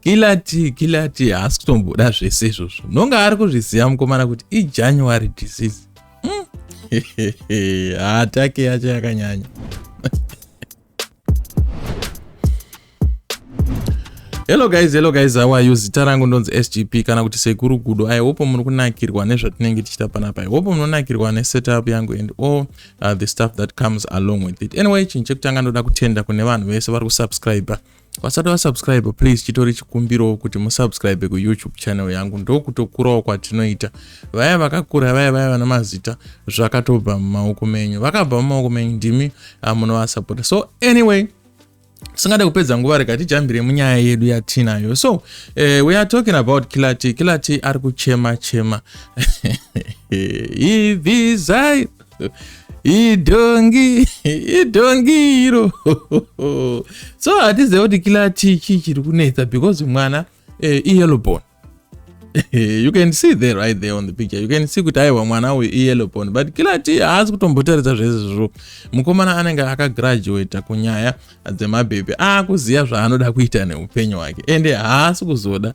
kilati kilati haasi kutomboda zvese izvozvo nonga ari kuzviziva mukomana kuti ijanuary disease hmm. hatake yacho yakanyanya hello guys hello guys how are you zita rangu ndonzi sgp kana kuti sekuru gudo i hope muri kunakirwa nezvatinenge tichita panapa i hope munonakirwa nesetup yangu and all uh, the stuff that comes along with it anyway chinhu chekutanga ndoda kutenda kune vanhu vese vari kusubscribe vasati vasubscribe please chitori chikumbirawo kuti musubscribe kuyoutube channel yangu ndokutokurawo kwatinoita vaya vakakura vaya vaya vana mazita zvakatobva mumaoko menyu vakabva mumaoko menyu ndimi uh, munovasapota so anyway tisingade kupedza nguva rega tijambire munyaya yedu yatinayo so uh, we are talking about kilati kilati ari kuchema chema ivizai idhongi idhongi iro so hatizive kuti kilati chii chiri kunetsa because mwana uh, eh, iyelobon you can see there right there on the picture you can see kuti aiwa mwana uyu iyellow bone but kila ti haasi kutombotaridza zvezvizvo mukomana anenge akagraduata kunyaya dzemabhebhi aakuziva zvaanoda kuita neupenyu hwake ende haasi kuzoda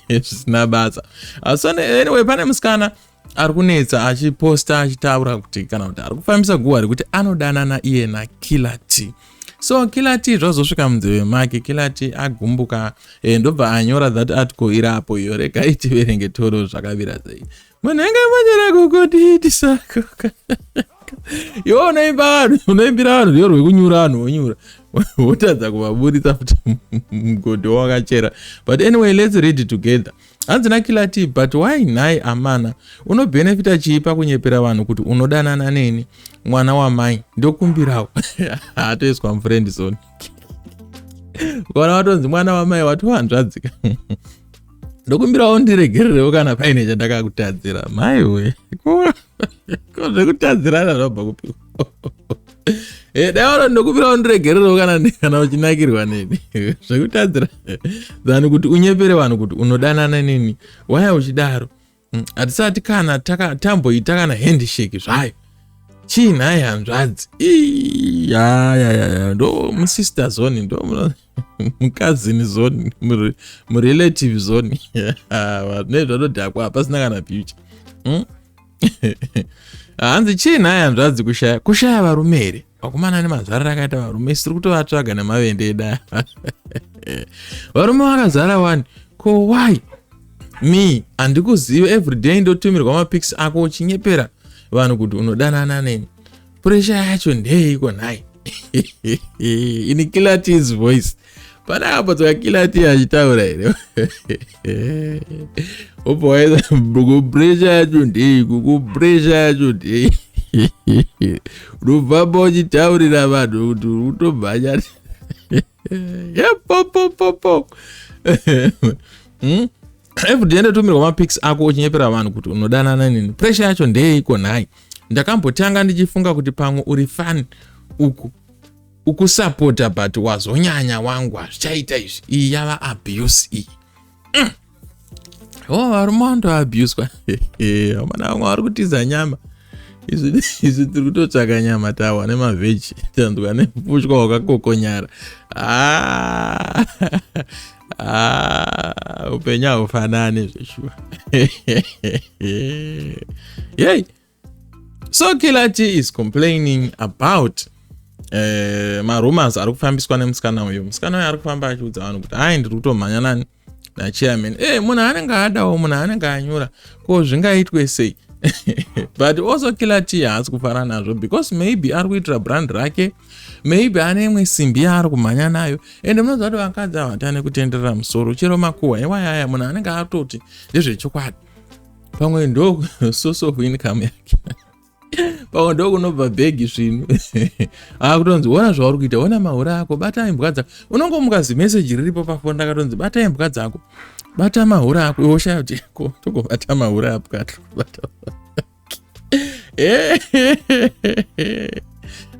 zvisina basa asone anyway pane musikana ari kunetsa achiposta achitaura kuti kana kuti ari kufambisa guhwa rekuti anodanana iye nakiller t so killer t zvazosvika munzeve make killer t agumbuka e, ndobva anyora that article iri apo iyo rega itiverenge toro zvakavira sei munhu anga manyora kukutiitisakoka iwe unoimba vanhu unoimbira vanhu riyo rwekunyura vanhu wonyura wotadza kuvaburitsa kuti mgodhi wakachera but anyway let's read together hanzi nakilati but why nhai amana unobhenefita chii pakunyepera vanhu kuti unodanana neni mwana wamai ndokumbirawo atoiswa mufrendi zone ukaona watonzi mwana wamai watohanzvadzika ndokumbirawo ndiregererewo kana paine chandakakutadzira maiwe ko zvekutadzirana zvinobva kupiwa Eh, dai waro ndokupira undiregererewo kana kana uchinakirwa neni zvekutadzira than kuti unyepere vanhu kuti unodanana neni waya uchidaro mm, hatisati kana tamboita kana handshake zvayo chii nhai hanzvadzi yayayaya ndo musister zoni ndo mukazini zoni murelative zoni nezvanodhakwa hapasina kana future mm? hanzi chii nhai hanzvadzi kushaya kushaya varume here vakomana nemazvara rakaita varume siri kutovatsvaga nemavende eda varume vakazara wani ko why me handikuziva everyday ndotumirwa mapics ako uchinyepera vanhu kuti unodanana neni puresha yacho ndeyeiko nhai ini kilatis voice pana apo tsoka kilati achitaura here obva waida kupuresha yacho ndeiko kupuresha yacho ndei unobvamba uchitaurira vanhu kuti utobvanyati yepopopopo hmm? everyday ndotumirwa mapics ako uchinyepera vanhu kuti unodanana nini presha yacho ndeyeiko nhai ndakambotanga ndichifunga kuti pamwe uri fan uku ukusapota but wazonyanya wangu hazvichaita izvi iyi yava abuse iyi mm. oh varume vandoabuswa amana vamwe vari kutiza nyama izvi tiri kutotsvaka nyama tawa nemavheji tanzwa nepushwa wakakokonyara ah. Ah, upenyu haufanani zveshuwa yei so kilachi is complaining about eh, marumors ari kufambiswa nemusikana uyo musikana uyo ari kufamba achiudza vanhu kuti hai ndiri kutomhanya nani nachairman e munhu anenge adawo munhu anenge anyura ko zvingaitwe sei but also kila t haasi kufara nazvo because maybe ari kuitira brand rake maybe ane imwe simbi yaari kumhanya nayo ende munoziva kuti vakadzi avatane kutenderera musoro chero makuhwa iwayaya munhu anenge atoti ndezvechokwadi pamwe ndo source of income yake pamwe ndo kunobva bhegi zvinhu akutonzi ona zvauri kuita ona mahure ako bata imbwa dzako unongomuka zimeseji riripo pafoni ndakatonzi bata imbwa dzako bata mahure ako iwoshaya kuti ko tokobata mahure apwa tokobata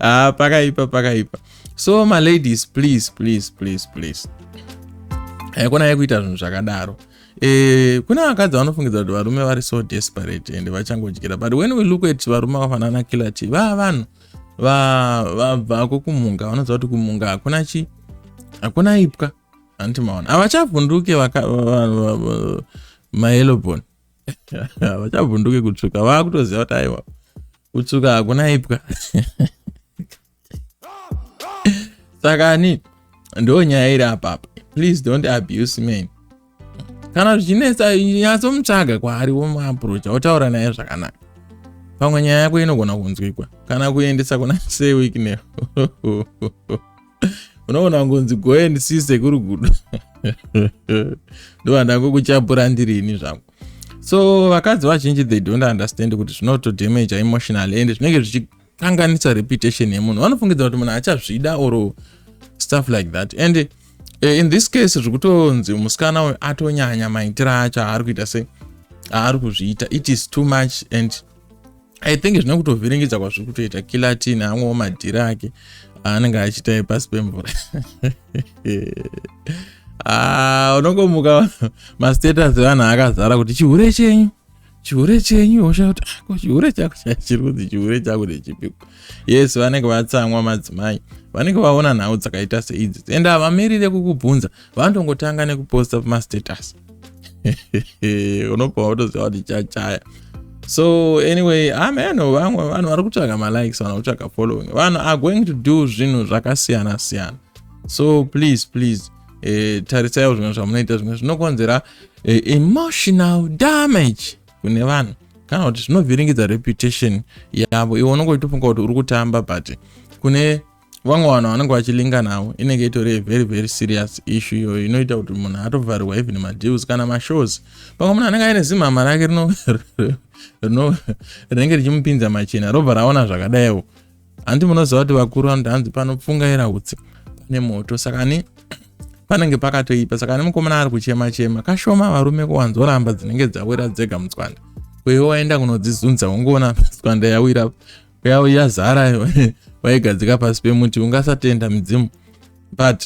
ah, pakaipa pakaipa so maladies please please please please haikona yekuita zvinhu zvakadaro e, kune vakadzi vanofungidza kuti varume vari so desperate and vachangodyira but when we look at varume vafanana killer t vaa vanhu vabvako kumunga vanoziva kuti kumunga hakuna chi hakuna ipwa handiti maona havachavhunduke mayellow bone vachabvunduke kutsvuka vakutoziva kuti aiwa kutsvuka hakuna ipwa saka ani ndo nyaya iri apapa please don't abuse men kana zvichinetsa nyatsomutsvaga kwaari womuaprocha wotaura naye zvakanaka pamwe nyaya yako inogona kunzwikwa kana kuendesa kuna sewikneho unoona wangonzi go and see sekuru gudo ndovandango kuchapura ndiri ini zvangu so vakadzi vazhinji they don't understand kuti zvinoto damage emotional and zvinenge zvichikanganisa reputation yemunhu vanofungidza kuti munhu achazvida or stuff like that and uh, in this case zviri kutonzi musikana uyu atonyanya maitiro acho aari kuita se aari kuzviita it is too much and i think zvine kutovhiringidza kwazviri kutoita kilatin amwewo madhiri ake aanenge achiita pasi pemvura ah, unongomuka mastatus evanhu akazara kuti chihure chenyu chihure chenyu hosha kuti ah, ko chihure chako chachiri kunzi chihure chako ndechipiko yes vanenge vatsamwa madzimai vanenge vaona nhau dzakaita seidzi ende havamirire kukubvunza vanotongotanga nekuposta pamastatus unobva watoziva kuti chachaya so anyway ameno vamwe vanhu vari kutsvaga malikes vanhu kutsvaga following vanhu are going to do zvinhu zvakasiyana siyana so please please eh, tarisaiwo zvimwe zvamunoita zvimwe zvinokonzera eh, emotional damage kune vanhu kana kuti zvinovhiringidza reputation yavo iwe unongoitofunga kuti uri kutamba but kune vamwe vanhu vanenge vachilinga navo inenge itori very very serious issue iyoyo inoita kuti munhu atovharirwa even madeals kana mashows pamwe munhu anenge aine zimhama rake rinenge richimupinza machena robva raona zvakadaiwo handi munoziva kuti vakuru vanoti hanzi panopfungaira utsi pane moto saka ni panenge pakatoipa saka ni mukomana ari kuchema chema kashoma varume kuwanzoramba dzinenge dzawira dzega mutswanda kuiwo waenda kunodzizunza ungoona tswanda yawira yavo yazara vaigadzika pasi pemuti ungasatenda midzimu but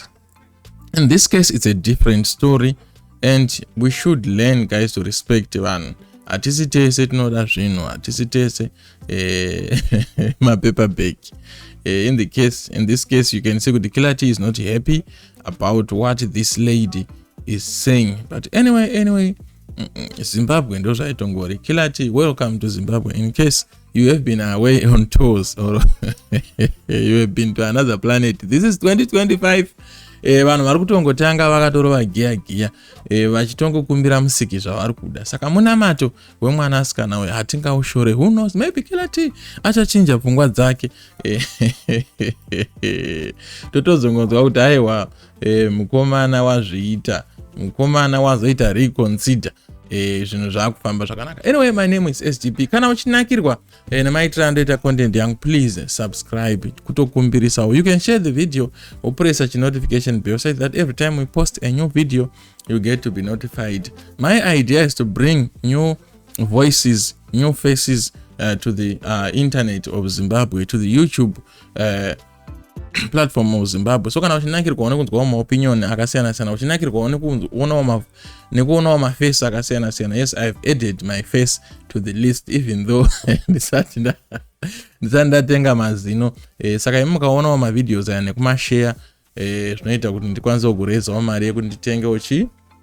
in this case it's a different story and we should learn guys to respect vanhu hatisi tese tinoda zvinhu hatisi tese eh, mapaper bag eh, in the case in this case you can see kuti kilati is not happy about what this lady is saying but anyway anyway zimbabwe ndozvaitongori kilati welcome to zimbabwe in case you have been away on tours or you have been to another planet this is 2025 eh, vanhu vari kutongotanga vakatorova giya giya eh, vachitongokumbira musiki zvavari kuda saka munamato wemwana asikana uyo hatingaushore who knows maybe kilati achachinja pfungwa dzake eh, totozongonzwa kuti aiwa e, mukomana wazviita mukomana wazoita reconsider e, zvinhu zvaakufamba zvakanaka anyway my name is sgp kana uchinakirwa e, nemaitiro andoita content yangu please subscribe kutokumbirisawo you can share the video wopresa chinotification bell so that every time we post a new video you get to be notified my idea is to bring new voices new faces uh, to the uh, internet of zimbabwe to the youtube uh, platform muzimbabwe so kana uchinakirwawo nekunzwawo maopinion akasiyana siyana uchinakirwawo nekuonawo nekuonawo maface akasiyana siyana yes i have added my face to the list even though ndisati ndatenga mazino eh, saka imi mukaonawo mavideos aya nekumashare eh, zvinoita kuti ndikwanise kurezawo mari yekuti nditenge uchi